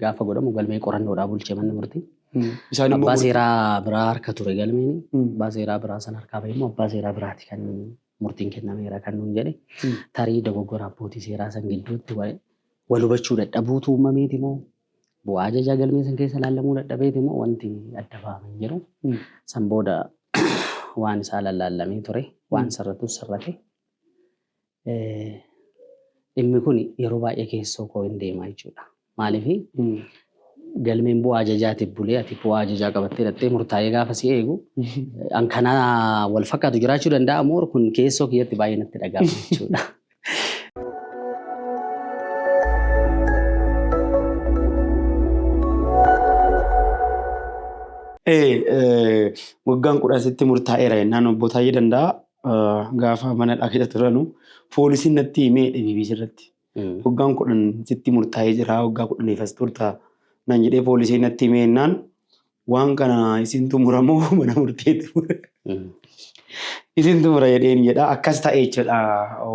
gaafa godhamu galmee qorannoodhaa bulche manni murtii. Isaan immoo Abbaa murtii- seeraa biraa harka ture galmeen. Mm. Abbaa seeraa biraa san harkaa bahe immoo abbaa seeraa biraati kan murtiin kennameera kan nuun jedhe. Mm. Tarii dogoggora abbootii seeraa san gidduutti wa- wal hubachuu dadhabuutu uummameeti moo Bu'aa ajajaa galmee san keessa laallamuu dadhabeeti moo wanti adda bahame hin jiru. San booda waan isaa lallaallamee ture. Waan sirratus sirrate. Dhimmi kun yeroo baay'ee keessoo koo hin deema jechuudha. Maaliif galmeen bu'aa ajajaatiif bulee ati bu'aa ajajaa qabattee dhattee murtaa'ee gaafa si eegu an kana wal fakkaatu jiraachuu danda'a moo kun keessoo kiyyatti baay'ee natti dhaga'ama jechuudha. Waggaan kudhan sitti murtaa'eera jennaan obbo Taayyee Danda'a gaafa mana dhaabee turanu poolisiin natti himee dhibibii irratti. Waggaan kudhan sitti murtaa'ee jira waggaa kudhaniif as turta nan jedhee poolisiin natti himee jennaan Waan kana isin xumura moo mana murtee xumura? Isin xumura jedheen jedha. Akkas ta'e jechuudha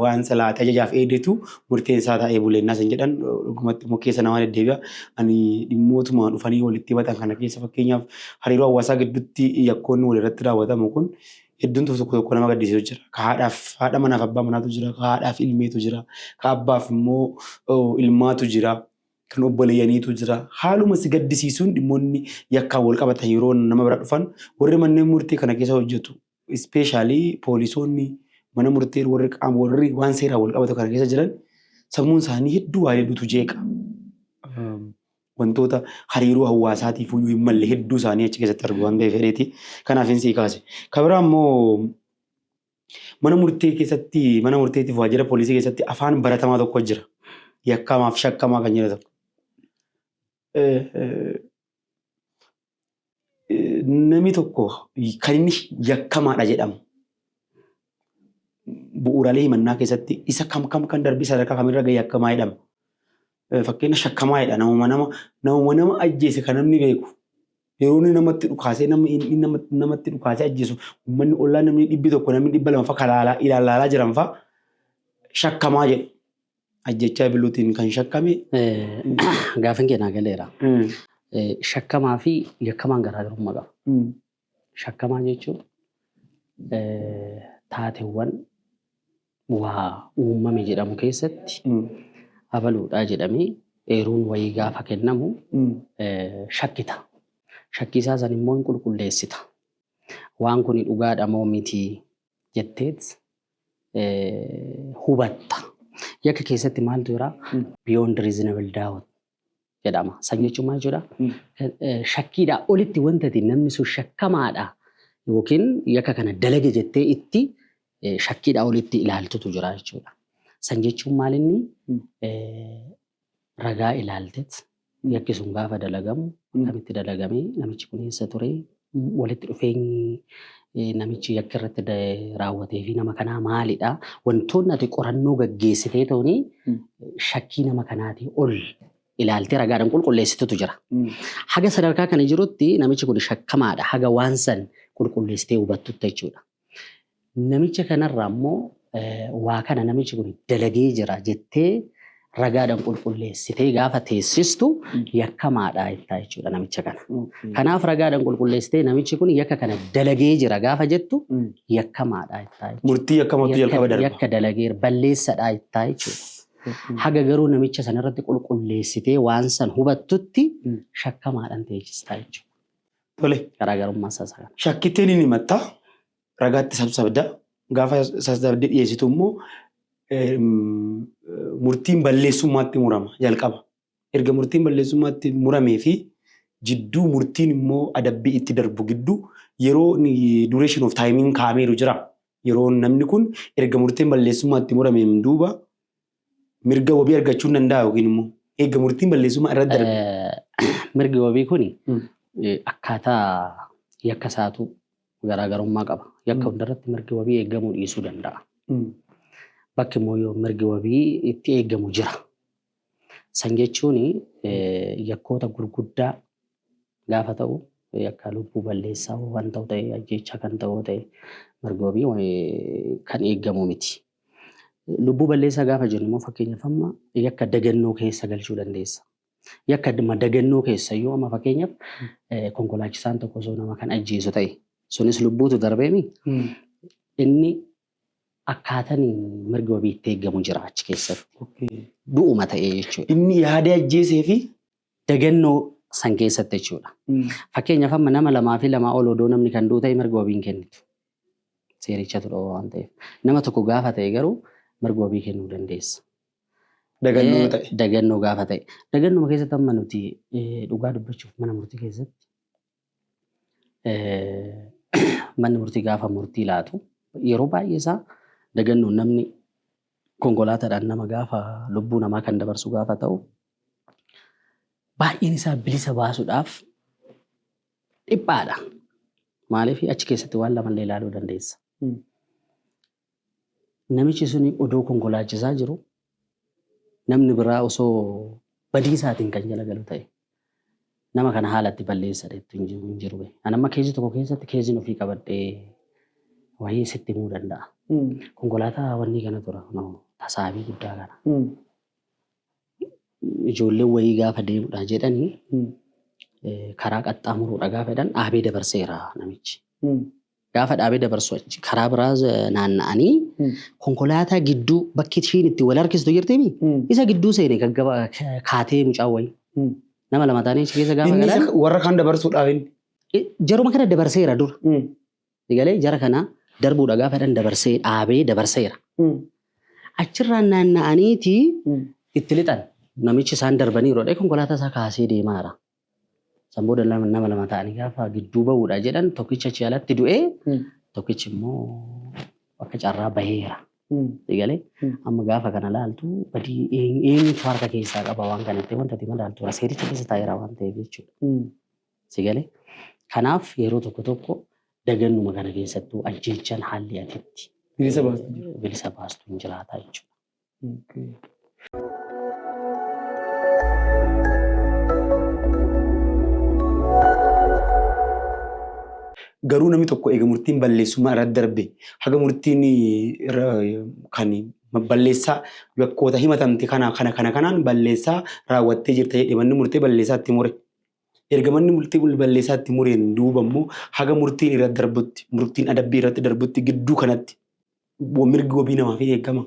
waan silaa tajajaaf eedetu murteen isaa ta'ee buleennaa isin jedhan dhugumatti immoo keessa namaa deddeebi'a. Ani dhimmootuma dhufanii walitti himatan kana keessa fakkeenyaaf hariiroo hawaasaa gidduutti yakkoonni walirratti raawwatamu kun hedduun tokko tokko tokko nama gaddisiisu jira. Ka haadhaaf haadha manaaf abbaa manaatu jira. Ka haadhaaf ilmeetu jira. Ka abbaaf immoo ilmaatu jira. kan obboleeyyaniitu jira. Haaluma si gaddisiisuun dhimmoonni yakkaan wal qabatan yeroo nama bira dhufan warri manneen murtii kana keessa hojjetu ispeeshaalii poolisoonni mana murtii warri qaama warri waan seeraan wal qabatu kana keessa jiran sammuun isaanii hedduu waa hedduutu jeeqa. Wantoota hariiroo hawaasaatiif iyyuu hin malle hedduu isaanii achi keessatti argu waan ta'eef fedheeti. Kanaaf hin sii kaase. Kabira ammoo Mana murtee keessatti mana murteetiif waajjira poolisii keessatti afaan baratamaa tokko jira. Yakkamaaf shakkamaa kan jedhu tokko. Eh, eh, eh, Namni tokko kan inni yakkamaadha jedhamu bu'uuraalee himannaa keessatti isa kam kam kan darbe sadarkaa kamirra ga'e yakkamaa jedhama. Fakkeenya shakkamaa jedha namuma nama namuma nama ajjeese kan namni beeku yeroo inni namatti dhukaasee nama inni nama- namatti dhukaasee ajjeesu uummanni ollaa namni dhibbi tokko namni dhibba lama fa'a kalaalaa ilaalaalaa jiran fa'a shakkamaa jedhu ajjechaa biluutiin kan shakkame Gaafin kee naa galeera. Eh, Shakkamaa fi yakkamaan garaagarummaa qaba. Shakkamaa jechuun taatewwan waa uumame jedhamu keessatti abaluudhaa jedhamee eeruun wayii gaafa kennamu shakkita. Shakkii isaa san immoo hin qulqulleessita. Waan kuni dhugaadha moo miti jetteet hubatta. Yakka keessatti maaltu jira? Beyond reasonable doubt jedhama. San jechuun maal jechuudha? Shakkiidhaa olitti wanta ati namni sun shakkamaadha yookiin yakka kana dalage jettee itti shakkiidhaa olitti ilaaltutu jira jechuudha. San jechuun maal inni ragaa ilaaltet yakki sun gaafa dalagamu akkamitti dalagamee namichi kun eessa turee walitti dhufeenyi namichi yakka irratti raawwatee fi nama kanaa maalidha? Wantoonni ati qorannoo gaggeessitee tooni shakkii nama kanaatii ol ilaaltee ragaadhaan qulqulleessitutu jira. Haga sadarkaa kana jirutti namichi kun shakkamaadha haga waan san qulqulleessitee hubattutti jechuudha. Namicha kanarraa immoo waa kana namichi kun dalagee jira jettee ragaadhaan qulqulleessitee gaafa teessistu yakkamaadha jettaa jechuudha namicha kana. Kanaaf ragaadhaan qulqulleessitee namichi kun yakka kana dalagee jira gaafa jettu yakkamaadha jettaa jechuudha. Murtii yakkamatu jalqaba darba. Yakka dalageera balleessadha jettaa jechuudha. Haga garuu namicha sana irratti qulqulleessitee waan san hubattutti shakkamaadhaan teessistaa jechuudha. Tole. Garaagarummaa isaa isa kana. Shakkittee ni himatta, ragaatti sabsabda. Gaafa sabsabdee dhiyeessitu immoo murtiin balleessummaatti murama jalqaba. Erga murtiin balleessummaatti muramee fi jidduu murtiin immoo adabbii itti darbu gidduu yeroo duration of time kaa'ameeru jira. Yeroo namni kun erga murtiin balleessummaatti murameen duuba mirga wabii argachuu hin danda'a yookiin immoo eega murtiin balleessummaa irra darbe. Mirgi wabii kun hmm. akkaataa yakka isaatu garaagarummaa qaba. Yakka hmm. hundarratti mirgi wabii eegamuu dhiisuu danda'a. Hmm. Bakki immoo yoo mirgi wabii itti eegamu jira. San jechuun yakkoota gurguddaa gaafa ta'u yakka lubbuu balleessaa waan ta'u ta'e ajjeechaa kan ta'u ta'e mirgi wabii kan eegamu miti. Lubbuu balleessaa gaafa jennu immoo fakkeenyaaf amma yakka dagannoo keessa galchuu dandeessa. Yakka dhimma dagannoo keessa iyyuu amma fakkeenyaaf eh, konkolaachisaan tokko osoo nama kan ajjeesu ta'e sunis lubbuutu darbeemi inni akkaataan mirgi wabii itti eegamu jira achi keessatti Okay. du'uma ta'ee jechuudha. Inni yaadee ajjeesee fi Dagannoo san keessatti jechuudha. Fakkeenyaaf amma nama lamaa fi lamaa ol odoo namni kan du'u ta'e mirga wabii hin kennitu. Seerichatu dhoowwa waan ta'eef. Nama tokko gaafa ta'e garuu mirga wabii kennuu dandeessa. Dagannoo yoo ta'e. Dagannoo gaafa ta'e. Dagannuma keessatti amma nuti dhugaa dubbachuuf mana murtii keessatti manni murtii gaafa murtii laatu yeroo baay'ee isaa dagannoon namni konkolaataadhaan nama gaafa lubbuu namaa kan dabarsu gaafa ta'u baay'een isaa bilisa baasuudhaaf dhiphaadha. Maaliif achi keessatti waan lamallee ilaaluu dandeessa. Namichi suni odoo konkolaachisaa jiru namni biraa osoo badiisaatiin kan jala galu ta'e nama kana haala itti balleessa dheettu hin jiru hin jiru. bee. Ani amma keezii tokko keessatti keeziin ofii qabadhee wayii sitti himuu danda'a. Konkolaataa wanni kana tura kunoo tasaabii guddaa kana. ijoolleen wayii gaafa deemudha jedhani karaa qaxxaamuruudha gaafa jedhan dhaabee dabarseera namichi. Gaafa dhaabee dabarsu achi karaa biraa naanna'anii konkolaataa gidduu bakki ishiin itti wal harkistu jirtimi isa gidduu seene gaggaba kaatee mucaa wayii. Nama lama taanee achi keessa gaafa galan. Warra kaan dabarsuudhaaf inni. Jaruma kana dabarseera dura. Sigalee jara kana darbuudha gaafa jedhan dabarsee dhaabee dabarseera. Achirraan naanna'aniiti itti lixan. Namichi isaan darbaniiru jedhee konkolaataa isaa kaasee deemaara. San booda lama- nama lama ta'anii gaafa gidduu ba'uudha jedhan tokkichi achi alatti du'ee tokkichi immoo akka carraa baheera. Sigalee amma gaafa kana laaltu badii een- eenyutu harka keessaa qaba waan kanatti wanta ati madaaltu seericha keessa taa'eera waan ta'eef jechuudha. Si gale? Kanaaf yeroo tokko tokko dagannuma kana keessattuu ajjeechaan haalli ati itti Bilisa baastu jira. eh, bilisa baastu hin jiraata jechuudha. Okay. Garuu namni tokko eega murtiin balleessummaa irra darbe haga murtiin irra kan balleessaa yakkoota himatamte kana kana kana kanaan balleessaa raawwattee jirta jedhee manni murtee balleessaa itti mure. Erga manni murtii murtii balleessaa itti mureen duuba immoo haga murtiin irratti darbutti, murtiin adabbii irratti darbutti gidduu kanatti mirgi wabii namaa fi eegama.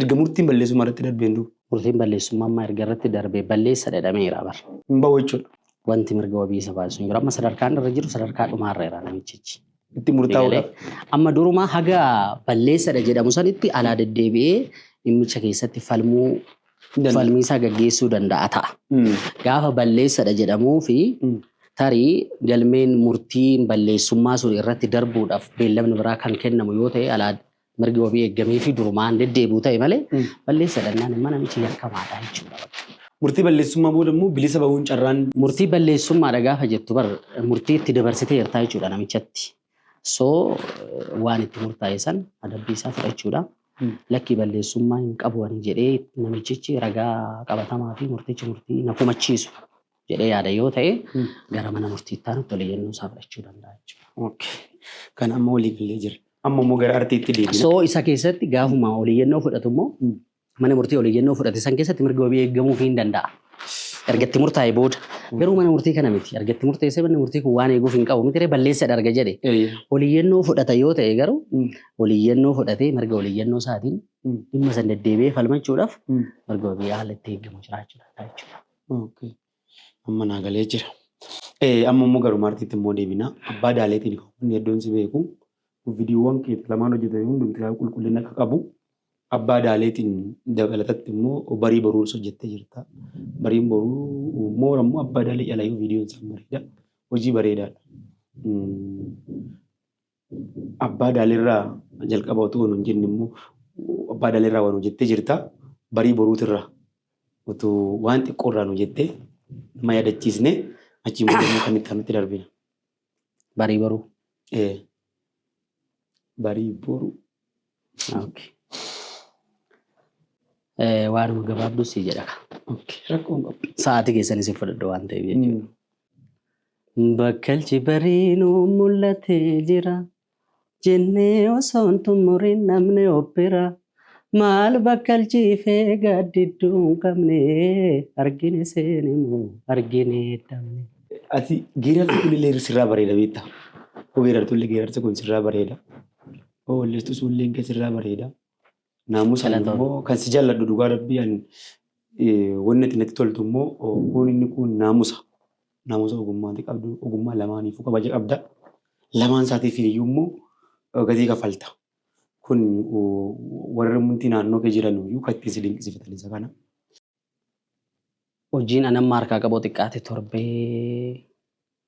Erga murtiin balleessummaa irratti darbeen duuba. Murtiin balleessummaa ammaa erga irratti darbee balleessa dhedhameera bar. Hin bahu jechuudha. Wanti mirga wabii isa baasu hin jiru. Amma sadarkaan irra jiru sadarkaa dhumaarra jira namichichi. Itti murtaa'uudhaaf. Amma durumaa haga balleessadha jedhamu sanitti alaa deddeebi'ee dhimmicha keessatti falmuu falmiisaa gaggeessuu danda'a ta'a. Gaafa balleessadha jedhamuu fi tarii galmeen murtiin balleessummaa sun irratti darbuudhaaf beellamni biraa kan kennamu yoo ta'e alaa mirgi wabii eeggamee fi durumaan deddeebi'u ta'e malee balleessa dhannaan immoo namichi yakkamaadha jechuudha bakka. Murtii balleessummaa booda immoo bilisa bahuun carraan. Murtii balleessummaadha gaafa jettu bar murtii itti dabarsiteertaa jechuudha namichatti. So waan itti murtaa'e san adabbii isaa fudhachuudha. Lakkii balleessummaa hin qabu ani jedhee namichichi ragaa qabatamaa fi murtichi murtii na komachiisu jedhee yaada yoo ta'e gara mana murtiitti aanutti ol iyyannoo isaa fudhachuu danda'a jechuudha. Kan amma walii galee jira. Amma immoo gara artiitti deebina. Soo isa keessatti gaafuma ol iyyannoo fudhatu immoo mana murtii ol iyyannoo fudhate san keessatti mirga wabii eegamuuf hin danda'a. Erga itti murtaa'e booda garuu mana murtii kana miti. Erga itti murteessee manni murtii kun waan eeguuf hin qabu miti balleessa dharga jedhe. Ol iyyannoo fudhata yoo ta'e garuu ol iyyannoo fudhatee mirga ol iyyannoo isaatiin dhimma san deddeebi'ee falmachuudhaaf mirga wabii haala itti eegamu jiraachuu danda'a jechuudha. Okay. Amma naa galee jira. Eh, amma immoo garuu maartiitti immoo deebina. Abbaa daaleetiin kan hedduun si beeku. Viidiyoowwan kee lamaan hojjetame hundumti isaa qulqullina akka qabu. Abbaa daaleetiin dabalatatti immoo barii boruus hojjettee jirta. Bariin boruu moora immoo abbaa daalee calayyuu viidiyoon isaan bareeda. Hojii bareedaadha. Mm. Abbaa daalirraa jalqaba utuu nuun jenne immoo abbaa daalirraa waan hojjettee jirta. Barii boruutirraa utuu waan xiqqoorraa nu jettee nama yaadachiisne achiin booda immoo kan itti aanutti darbina. Barii boruu. Ee, barii boruu. Okay. Eh, waanuma gabaabduu sii jedha ka. Okay. Rakkoon qabu. Sa'aatii keessan isin fudhadhu waan ta'eef jechuudha. Bakkalchi bariinuu mul'atee jira. Jennee osoo hin xumuriin namni obbira. Maal bakkalchiifee gaaddidduu hin qabne. Argine seene moo argine dhabne. Ati geerarsi kun illee sirraa bareeda beektaa? Koo geerartu illee geerarsi kun sirraa bareeda. Hoo walleestuu suulleen kee sirraa bareeda. Naamusa Galatoom. immoo kan si jalladhu dhugaa rabbii an eh, wanni ati natti toltu immoo oh, kun inni kun naamusa. Naamusa ogummaati qabdu ogummaa lamaaniifuu kabaja qabda. Lamaan isaatiif iyyuu immoo eh, gatii kafalta. Kun oh, warri mumti naannoo kee jiran iyyuu kan ittiin si dinqisiifatan isa kana. Hojiin an amma harkaa qabu xiqqaate torbee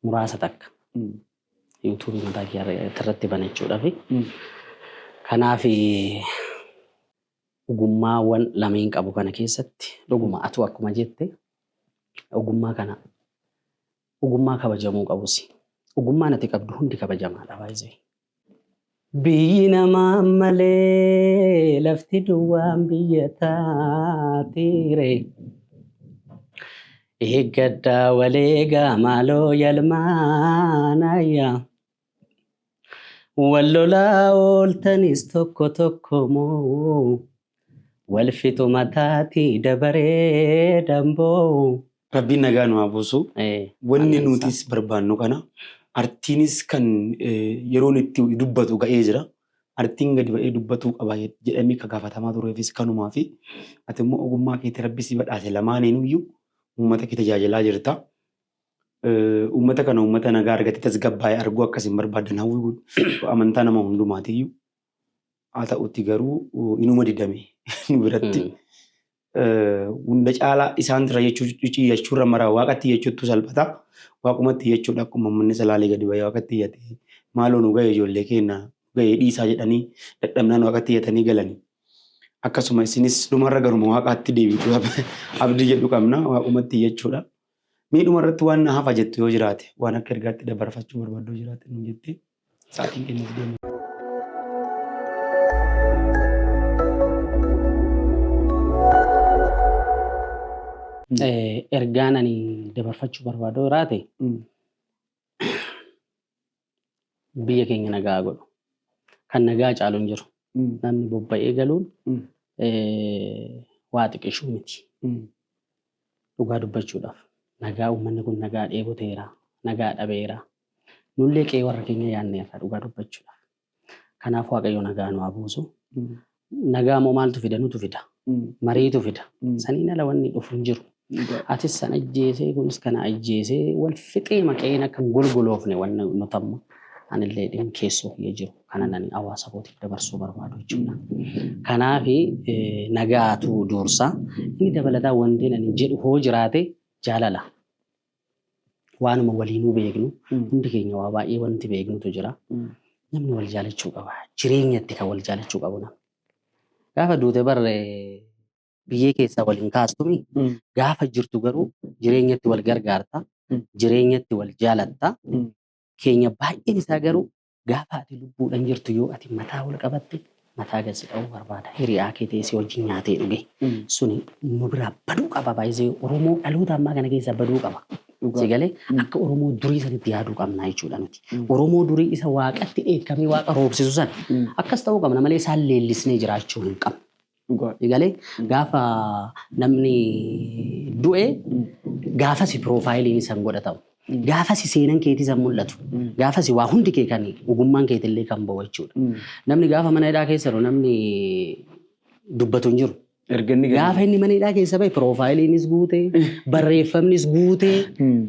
muraasa takka. Yuutuubii mataa kiyyaa irra- irratti banachuudhaaf. Kanaaf ogummaawwan lameen qabu kana keessatti dhuguma atuu akkuma jette ogummaa kana Ogummaa kabajamuu qabusi. Ogummaan ati qabdu hundi kabajamaadha by the way. Biyyi namaa malee lafti duwwaan biyya taatiire. Eeggadhaa waleegaa maaloo yalmaanayya. Wal lolaa ooltanis tokko tokko moo wal fixu mataati dabaree damboo. Rabbiin nagaa nu haa buusu. Wanni nutis barbaannu kana. Artiinis kan yeroon itti dubbatu ga'ee jira. Artiin gadi ba'ee dubbatuu qaba jedhamee kan gaafatamaa tureefis kanumaafi. Ati immoo ogummaa keetii rabbi si badhaase lamaaniinuyyu uummata kee tajaajilaa jirta. Uummata kana uummata nagaa argatee tasgabbaa'e arguu akka isin barbaadan hawwii amantaa nama hundumaatiyyu. Haa ta'utti garuu inuma didame nu biratti. Hunda caalaa isaan irra jechuurra mara waaqatti jechuuttu salphata. Waaqumatti jechuudha akkuma manni salaalee gadi ba'ee waaqatti iyyate maaloo nu ga'e ijoollee keenya ga'e dhiisaa jedhanii dadhabnaan waaqatti iyyatanii galanii. Akkasuma isinis dhumarra garuma waaqaatti deebiitu abdii jedhu qabna waaqumatti jechuudha. Mee dhuma irratti waan na hafa jettu yoo jiraate waan akka ergaatti dabarfachuu barbaaddu yoo jiraate nu jettee sa'aatiin kennuuf deemu. Ergaan ani dabarfachuu barbaadu jiraate biyya keenya nagaa haa godhu. Kan nagaa caalu hin jiru. Namni bobba'ee galuun waa xiqishuu miti. Dhugaa dubbachuudhaaf nagaa uummanni kun nagaa dheeboteera, nagaa dhabeera. Nullee qe'ee warra keenya yaadneerra dhugaa dubbachuudhaaf. Kanaaf Waaqayyo nagaa nu haa buusu. Nagaa moo maaltu fida nutu fida. Mariitu fida. Saniin ala wanni dhufu hin jiru. Atis san ajjeesee kunis kana ajjeesee wal fixee maqeen akka hin golgoloofne wanni nuti amma anillee dhimmi keessoo kiyya jiru kana nani hawaasa kootiif dabarsuu barbaadu jechuudha. Kanaaf nagaatu duursa. Inni dabalataa wanti nani jedhu hoo jiraate jaalala. waanuma waliinuu beeknu hundi keenya waa baay'ee wanti beeknutu jira. Namni wal jaalachuu qaba. Jireenyatti kan wal jaalachuu qabu namni. Gaafa duute barre biyyee keessaa wal hin kaastumi. Gaafa jirtu garuu jireenyatti wal gargaarta. Jireenyatti wal jaalatta. Keenya baay'een isaa garuu Gaafa ati lubbuudhan jirtu yoo ati mataa ol qabatte mataa gad si dha'uu barbaada. Hiriyaa kee ta'ee si wajjin nyaatee dhugee. Suni nu biraa baduu qaba baay'isee Oromoo dhaloota ammaa kana keessaa baduu qaba. Si galee akka Oromoo durii sanitti yaaduu qabna jechuudha nuti. Oromoo durii isa waaqatti dheekkamee waaqa roobsisu sana akkas ta'uu qabna malee isaan leellisnee jiraachuu hin qabnu. Dhugaadha. Galee gaafa namni du'e gaafasi piroofaayiliin san godhatamu. Gaafasi seenan keetii san mul'atu. Gaafasi waa hundi kee kan ogummaan keetillee kan ba'u jechuudha. Namni gaafa mana hidhaa keessa jiru namni dubbatu hin jiru. Erga inni gadi Gaafa inni mana hidhaa keessa bahe piroofaayiliinis guute, barreeffamnis guute,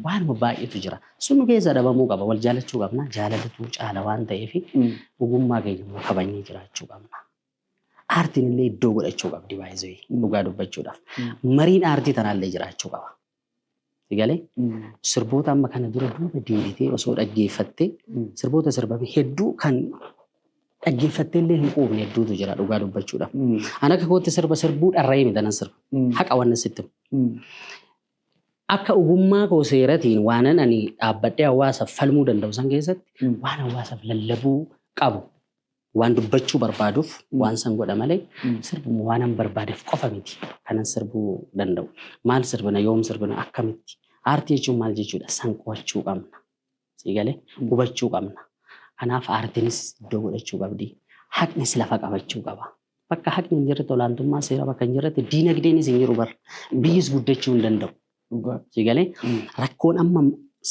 waanuma baay'eetu jira. Sun nu keessaa dhabamuu qaba. Wal jaalachuu qabna. Jaalalatu caala waan ta'eef ogummaa keenya immoo kabajnee jiraachuu qabna. Aartiin illee iddoo godhachuu qabdi baay'ee dhugaa dubbachuudhaaf. Mariin aartii tanaallee jiraachuu qaba. Sigalee sirboota amma kana dura duuba deebitee osoo dhaggeeffattee sirboota sirbame hedduu kan dhaggeeffattee illee hin quufne hedduutu jira dhugaa dubbachuudhaaf. An akka kootti sirba sirbuu dharra'ee miti nan sirba. Haqa waan nan sitti himu. Akka ogummaa koo seeratiin waanan ani dhaabbadhee hawaasaaf falmuu danda'u san keessatti waan hawaasaaf lallabuu qabu Waan dubbachuu barbaaduuf waan san godha malee sirbumu waanan barbaadeef qofa miti kanan sirbuu danda'u. Maal sirbina, yoom sirbina, akkamitti? Aartii jechuun maal jechuudha? San qo'achuu qabna. Sii galee? Hubachuu qabna. Kanaaf aartiinis iddoo godhachuu qabdi. Haqnis lafa qabachuu qaba. Bakka haqni hin jirretti olaantummaa seera bakka hin jirretti diinagdeenis hin jiru bar. Biyyis guddachuu hin danda'u. Dhugaa. Si galee rakkoon amma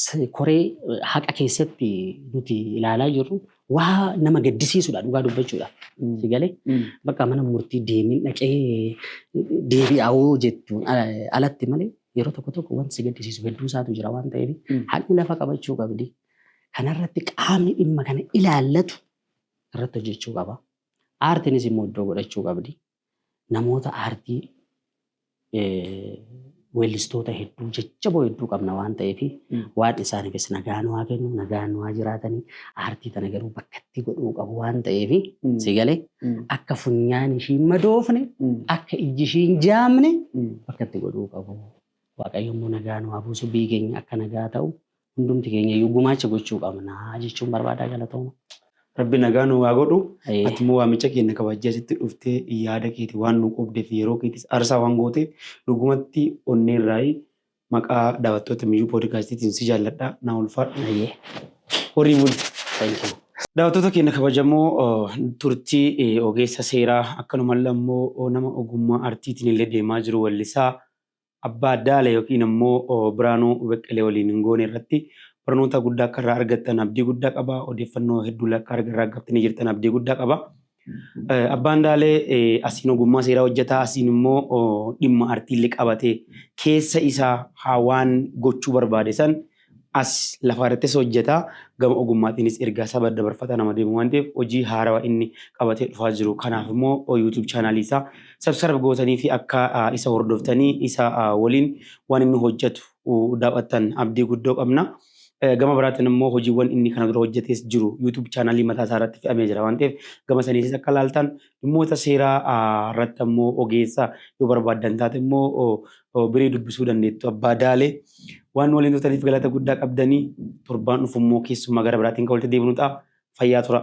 s- koree eh, haqa keessatti nuti ilaalaa jirru waa nama gaddisiisudha dhugaa dubbachuudha. Si galee bakka mana murtii deemin dhaqee deebi'aawoo jettuun ala- alatti malee yeroo tokko tokko wanti si gaddisiisu hedduu isaatu jira waan ta'eef Mm. haqni lafa qabachuu qabdi. Kanarratti qaamni dhimma kana ilaallatu irratti hojjechuu qaba. Aartiinis immoo iddoo godhachuu qabdi. namoota aartii weellistoota hedduu jajjaboo hedduu qabna waan ta'eef waan isaaniifis nagaa nu haa kennu nagaa nu haa jiraatanii aartii tana garuu bakka itti godhuu qabu waan ta'eef si galee akka funyaan ishii hin madoofne akka ijji ishii hin jaamne bakka itti godhuu qabu waaqayyo immoo nagaa nu haa buusu biyyi keenya akka nagaa ta'u Hundumti keenya iyyuu gumaacha gochuu qabna jechuun barbaadaa galatooma. Rabbi nagaa nu haa godhu. Ee. Ati immoo waamicha keenya kabajjee asitti dhuftee yaada keeti waan nu qoobdeef yeroo keetis arsaa waan gooteef dhugumatti onnee irraayi maqaa daawwattoota miyyuu poodikaastiitiin si jaalladha naa ulfaadhu Ayyee. horii buli. Thank you. Daawwattoota keenya kabajamoo oh, turtii eh, ogeessa seeraa akkanumallee ammoo oh, nama ogummaa artiitiin illee deemaa jiru wellisaa Abbaa Daala ykn ammoo Biraanuu Beqqelee waliin hin goone irratti barnoota guddaa akka irraa argattan abdii guddaa qaba. Odeeffannoo hedduulee akka arga irraa argattanii jirtan abdii guddaa qaba. Abbaan Daalee asiin ogummaa seeraa hojjetaa asiin immoo dhimma artiillee qabatee keessa isaa haa waan gochuu barbaade san As lafaa irrattis hojjeta, gama ogummaatiinis ergaa saba dabarfataa nama deemu waan ta'eef hojii haarawa inni qabatee dhufaa jiru kanaaf immoo YouTube channel isaa subscribe gootanii fi akka isa hordoftanii isa waliin waan inni hojjetu daaw'attan abdii guddoo qabna. Gama biraatiin immoo hojiiwwan inni kana dura hojjetees jiru YouTube channel mataa isaa irratti fe'amee jira waan ta'eef gama saniitis akka laaltan Dhimmoota seeraa irratti ammoo ogeessa yoo barbaaddan taate immoo birii dubbisuu dandeettu abbaa daalee. Waan nu waliin turtaniif galata guddaa qabdanii torbaan dhufu immoo keessummaa gara biraatiin kan walitti deebinu ta'a. Fayyaa tura.